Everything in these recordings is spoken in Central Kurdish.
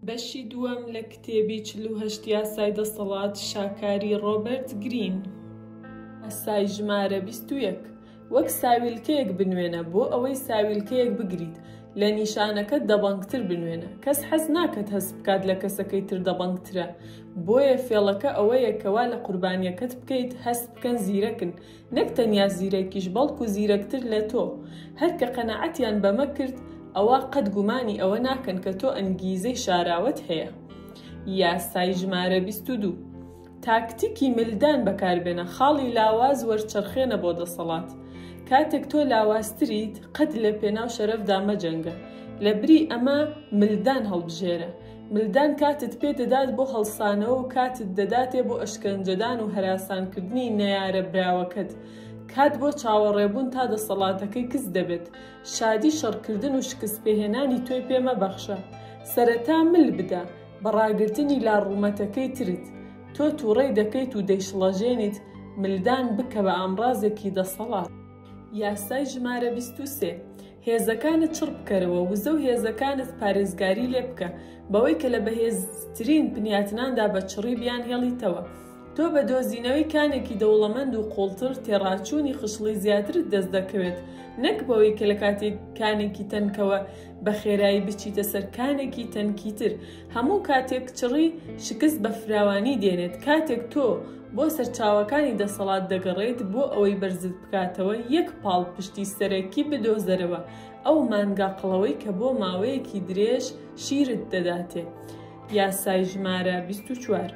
بەشی دووەم لە کتێبی چل و هەشت یاسای دەسەڵات شاکاری ڕۆبەرت گرین ئەسای ژمارە بیست و یەک وەک ساویلکەیەک بنوێنە بۆ ئەوەی ساویلکەیەک بگریت لە نیشانەکەت دەبەنگتر بنوێنە، کەس حەز ناکەت هەست بکات لە کەسەکەی تر دەبەنگترە، بۆیە فێڵەکە ئەوەیە کەوا لە قوربانیەکەت بکەیت هەست بکەن زیرەکن، نەک تەنیا زیرەکیش بەڵکو زیرەکتر لە تۆ، هەر کە قەناعەتیان بەمە کرد ئەوا قەت گومانی ئەوە ناکەن کە تۆ ئەنگیزەی شاراوەت هەیە. یاسای ژمارە بیست و دوو. تاکتیکی ملدان بەکاربێنە، خاڵی لاواز وەرچەرخێنە بۆ دەسەڵات. کاتێک تۆ لاوازتریت، قەت لە پێناو شەرەفدا مەجەنگە. لەبری ئەمە ملدان هەڵبژێرە. ملدان کاتت پێ دەدات بۆ هەڵسانەوە و کاتت دەداتێ بۆ ئەشکەنجەدان و هەراسانکردنی نەیارە براوەکەت. کات بۆ چاوەڕێبوون تا دەسەڵاتەکەی کز دەبێت. شادی شەڕکردن و شکستپێهێنانی تۆی پێ مەبەخشە. سەرەتا مل بدە. بە ڕاگرتنی لا ڕوومەتەکەی ترت، تۆ تووڕەی دەکەیت و دەیشڵەژێنیت ملدان بکە بە ئامڕازێکی دەسەڵات. یاسای ژمارە بیست و سێ، هێزەکانت چڕ بکەرەوە، وزە و هێزەکانت پارێزگاری لێ بکە، بەوەی کە لە بەهێزترین بنیاتناندا بە چڕی بیانهێڵیتەوە. تۆ بە دۆزینەوەی کانێکی دەوڵەمەند و قوڵتر تێڕاچوونی خشڵی زیاترت دەست دەکەوێت، نەک بەوەی کە لە کاتی کانێکی تەنکەوە بە خێرایی بچیتە سەر کانێکی تەنکی تر. هەموو کاتێک چڕی شکست بە فراوانی دێنێت. کاتێک تۆ بۆ سەرچاوەکانی دەسەڵات دەگەڕێیت بۆ ئەوەی بەرزت بکاتەوە، یەک پاڵپشتی سەرەکی بدۆزەرەوە، ئەو مانگا قڵەوەی کە بۆ ماوەیەکی درێژ شیرت دەداتێ. یاسای ژمارە بیست و چوار.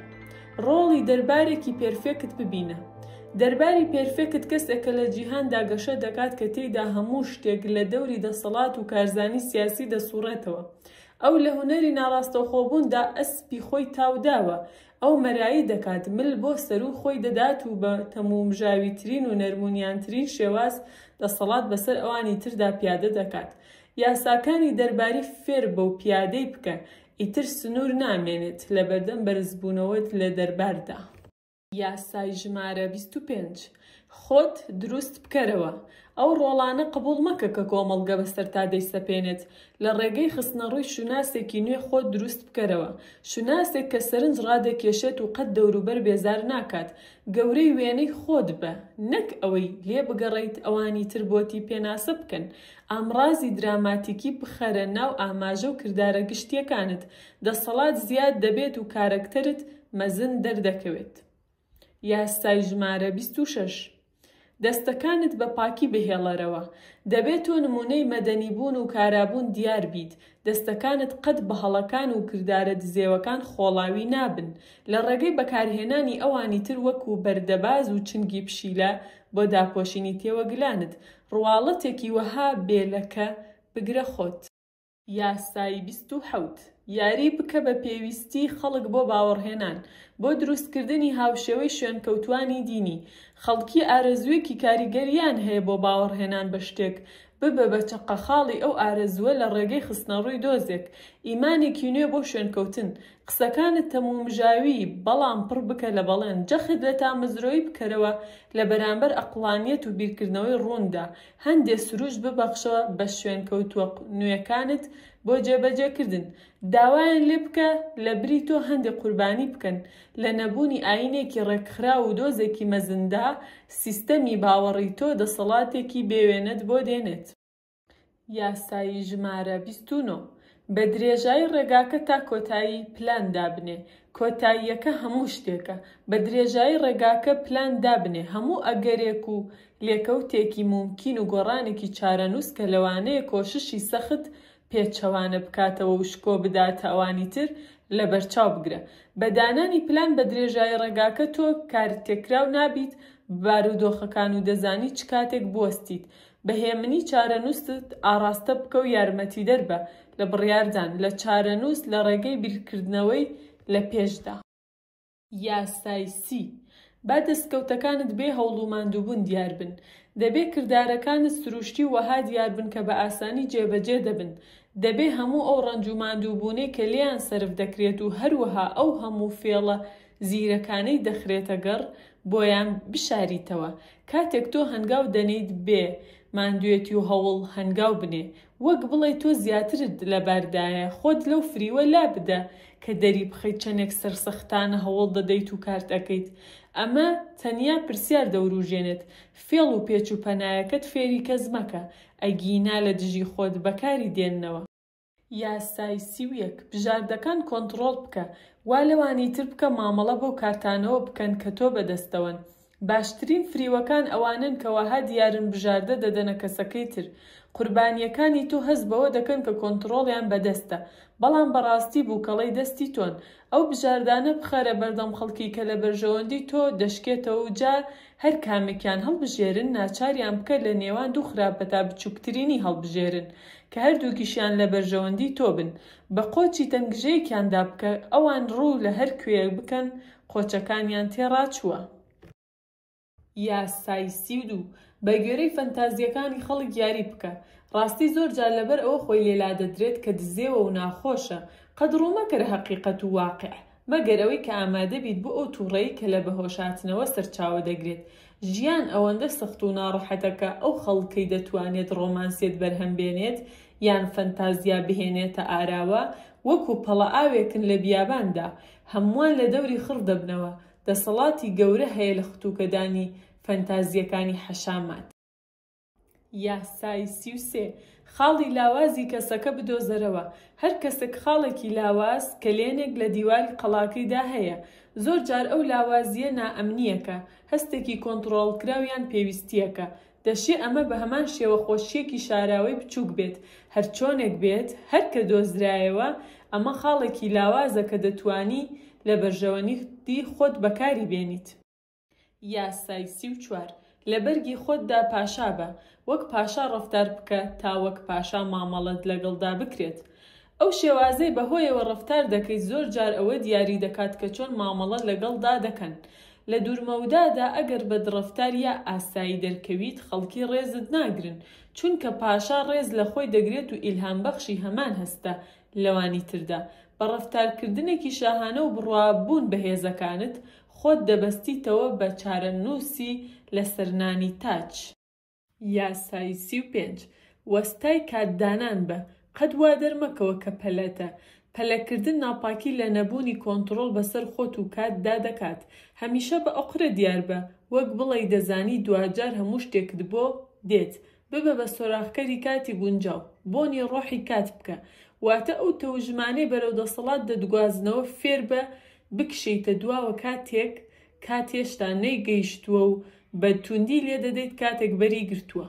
ڕۆڵی دەربارێکی پێرفێکت ببینە. دەرباری پێرفێکت کەسێکە لە جیهاندا گەشە دەکات کە تێیدا هەموو شتێک لە دەوری دەسەڵات و کارزانی سیاسی دەسوڕێتەوە. ئەو لە هونەری ناڕاستەوخۆبووندا ئەسپی خۆی تاو داوە. ئەو مەرایی دەکات، مل بۆ سەروو خۆی دەدات و بە تەمومژاویترین و نەرمونیانترین شێواز دەسەڵات بەسەر ئەوانی تردا پیادە دەکات. یاساکانی دەرباری فێر بە و پیادەی بکە. ئیتر سنوور نامێنێت لەبەردەم بەرزبوونەوەت لە دەرباردا. یاسای ژمارە بیست و پێنج خۆت دروست بکەرەوە، ئەو ڕۆڵانە قبوڵ مەکە کە کۆمەڵگە بەسەرتا دەیسەپێنێت، لە ڕێگەی خستنەڕووی شوناسێکی نوێ خۆت دروست بکەرەوە، شوناسێک کە سەرنج ڕادەکێشێت و قەت دەوروبەر بێزار ناکات، گەورەی وێنەی خۆت بە، نەک ئەوەی لێ بگەڕێیت ئەوانی تر بۆتی پێناسە بکەن، ئامڕازی دراماتیکی بخەرە ناو ئاماژە و کردارە گشتییەکانت، دەسەڵات زیاد دەبێت و کارەکتەرت مەزن دەردەکەوێت. یاسای ژمارە بیست و شەش. دەستەکانت بە پاکی بهێڵەرەوە. دەبێت تۆ نموونەی مەدەنیبوون و کارابوون دیار بیت، دەستەکانت قەت بە هەڵەکان و کردارە دزێوەکان خۆڵاوی نابن، لە ڕێگەی بەکارهێنانی ئەوانی تر وەکوو بەردەباز و چنگی پشیلە بۆ داپۆشینی تێوەگلانت، ڕواڵەتێکی وەها بێ لەکە بگرە خۆت. یاسای بیست و حەوت یاری بکە بە پێویستی خەڵک بۆ باوەڕهێنان، بۆ دروستکردنی هاوشێوەی شوێنکەوتووانی دینی. خەڵکی ئارەزووێکی کاریگەریان هەیە بۆ باوەڕهێنان بە شتێک، ببە بە چەقەخاڵی ئەو ئارەزووە لە ڕێگەی خستنەڕووی دۆزێک، ئیمانێکی نوێ بۆ شوێنکەوتن، قسەکانت تەمومژاوی بەڵام پڕ بکە لە بەڵێن جەخت لە تامەزرۆی بکەرەوە لە بەرامبەر ئەقڵانیەت و بیرکردنەوەی ڕووندا هەندێ سروشت ببەخشەوە بە شوێنکەوتووە نوێکانت بۆ جێبەجێکردن داوایان لێ بکە لە بری تۆ هەندێ قوربانی بکەن لە نەبوونی ئاینێکی ڕێکخراو و دۆزێکی مەزندا سیستەمی باوەڕی تۆ دەسەڵاتێکی بێ وێنەت بۆ دێنێت. یاسایی ژمارە بیست و نۆ بە درێژایی ڕێگاکە تا کۆتایی پلان دابنێ کۆتاییەکە هەموو شتێکە بە درێژایی ڕێگاکە پلان دابنێ هەموو ئەگەرێک و لێکەوتێکی مومکین و گۆڕانێکی چارەنووس کە لەوانەیە کۆششی سەخت پێچەوانە بکاتەوە و شکۆ بداتە ئەوانی تر لەبەرچاو بگرە بە دانانی پلان بە درێژایی ڕێگاکە تۆ کارتێکراو نابیت بە بارودۆخەکان و دەزانی چ کاتێک بوەستیت بە هێمنی چارەنووست ئاڕاستە بکە و یارمەتیدەر بە لە بڕیاردان لە چارەنووس لە ڕێگەی بیرکردنەوەی لە پێشدا. یاسای سی. با دەستکەوتەکانت بێ هەوڵ و ماندووبوون دیار بن. دەبێ کردارەکانت سرووشتی و وەها دیار بن کە بە ئاسانی جێبەجێ دەبن. دەبێ هەموو ئەو ڕەنج و ماندووبوونەی کە لێیان سەرف دەکرێت و هەروەها ئەو هەموو فێڵە زیرەکانەی دەخرێتەگەڕ بۆیان بشاریتەوە کاتێک تۆ هەنگاو دەنێیت بێ ماندوێتی و هەوڵ هەنگاو بنێ وەک بڵێی تۆ زیاترت لەباردایە خۆت لەو فریوە لابدە کە دەریبخەیت چەنێک سەرسەختانە هەوڵ دەدەیت و کارت ئەکەیت ئەمە تەنیا پرسیار دەوروژێنێت فێڵ و پێچ و پەنایەکەت فێری کەس مەکە ئەگینا لەدژی خۆت بەکاری دێننەوە. یاسای سی و یەک بژاردەکان کۆنتڕۆڵ بکە وا لەوانی تر بکە مامەڵە بەو کارتانەوە بکەن کە تۆ بەدەستەوەن باشترین فریوەکان ئەوانەن کە وەها دیارن بژاردە دەدەنە کەسەکەی تر قوربانیەکانی تۆ هەست بەوە دەکەن کە کۆنتڕۆڵیان بەدەستە بەڵام بەڕاستی بوکەڵەی دەستی تۆن ئەو بژاردانە بخەرە بەردەم خەڵکی کە لە بەرژەوەندی تۆ دەشکێتەوە و جا هەر کامێکیان هەڵبژێرن ناچاریان بکە لە نێوان دوو خراپە تا بچووکترینی هەڵبژێرن کە هەردووکیشیان لە بەرژەوەندی تۆ بن بە قۆچی تەنگژەیەکیان دا بکە ئەوان ڕوو لە هەر کوێیەک بکەن قۆچەکانیان تێ ڕاچووە. یاسای سی و دوو، بە گوێرەی فەنتازییەکانی خەڵک یاری بکە. ڕاستی زۆر جار لەبەر ئەوە خۆی لێ لادەدرێت کە دزێوە و ناخۆشە. قەت ڕوو مەکەرە هەقیقەت و واقیع. مەگەر ئەوەی کە ئامادە بیت بۆ ئەو توڕەی کە لە بەهۆشهاتنەوە سەرچاوە دەگرێت. ژیان ئەوەندە سەخت و ناڕەحەتە کە ئەو خەڵکەی دەتوانێت ڕۆمانسیەت بەرهەم بێنێت یان فەنتازیا بهێنێتە ئاراوە وەکو پەڵە ئاوێکن لە بیاباندا هەمووان لە دەوری خڕ دەبنەوە، دەسەڵاتی گەورە هەیە لە ختوکەدانی فەنتازیەکانی حەشامات. یاسای سی و سێ، خاڵی لاوازی کەسەکە بدۆزەرەوە، هەر کەسەک خاڵێکی لاواز، کەلێنێک، لە دیواری قەڵاکەیدا هەیە، زۆر جار ئەو لاوازییە نائەمنییەکە، هەستێکی کۆنتڕۆڵکراو یان پێویستییەکە. دەشێ ئەمە بە هەمان شێوە خۆشییەکی شاراوەی بچووک بێت. هەرچۆنێک بێت، هەر کە دۆزرایەوە، ئەمە خاڵێکی لاوازە کە دەتوانی لە بەرژەوەندی خۆت بەکاری بێنیت. یاسای سی و چوار، لە بەرگی خۆتدا پاشا بە، وەک پاشا ڕەفتار بکە تا وەک پاشا مامەڵەت لەگەڵدا بکرێت. ئەو شێوازەی بەهۆیەوە ڕەفتار دەکەیت زۆر جار ئەوە دیاری دەکات کە چۆن مامەڵە لەگەڵدا دەکەن. لە دوورمەودادا ئەگەر بەدڕەفتار یا ئاسایی دەرکەویت خەڵکی ڕێزت ناگرن، چونکە پاشا ڕێز لە خۆی دەگرێت و ئیلهامبەخشی هەمان هەستە لەوانی تردا، بە ڕەفتارکردنێکی شاهانە و بڕوا بوون بە هێزەکانت، خۆت دەبەستیتەوە بە چارەنووسی لەسەر نانی تاج. یاسای سی و پێنج، وەستای کات دانان بە، قەت وا دەرمەکەوە کە پەلەتە. پەلەکردن ناپاکی لە نەبوونی کۆنتڕۆڵ بەسەر خۆت و کات دا دەکات. هەمیشە بە ئۆقرە دیار بە، وەک بڵێی دەزانی دواجار هەموو شتێکت بۆ دێت، ببە بە سۆراخکەری کاتی گونجاو. بۆنی ڕۆحی کات بکە. واتە ئەو تەوژمانەی بەرەو دەسەڵات دەتگوازنەوە فێربە بکشێیتە دواوە کاتێک کات هێشتا نەیگەیشتووە و بە تووندی لێدەدەیت کاتێک بەری گرتووە.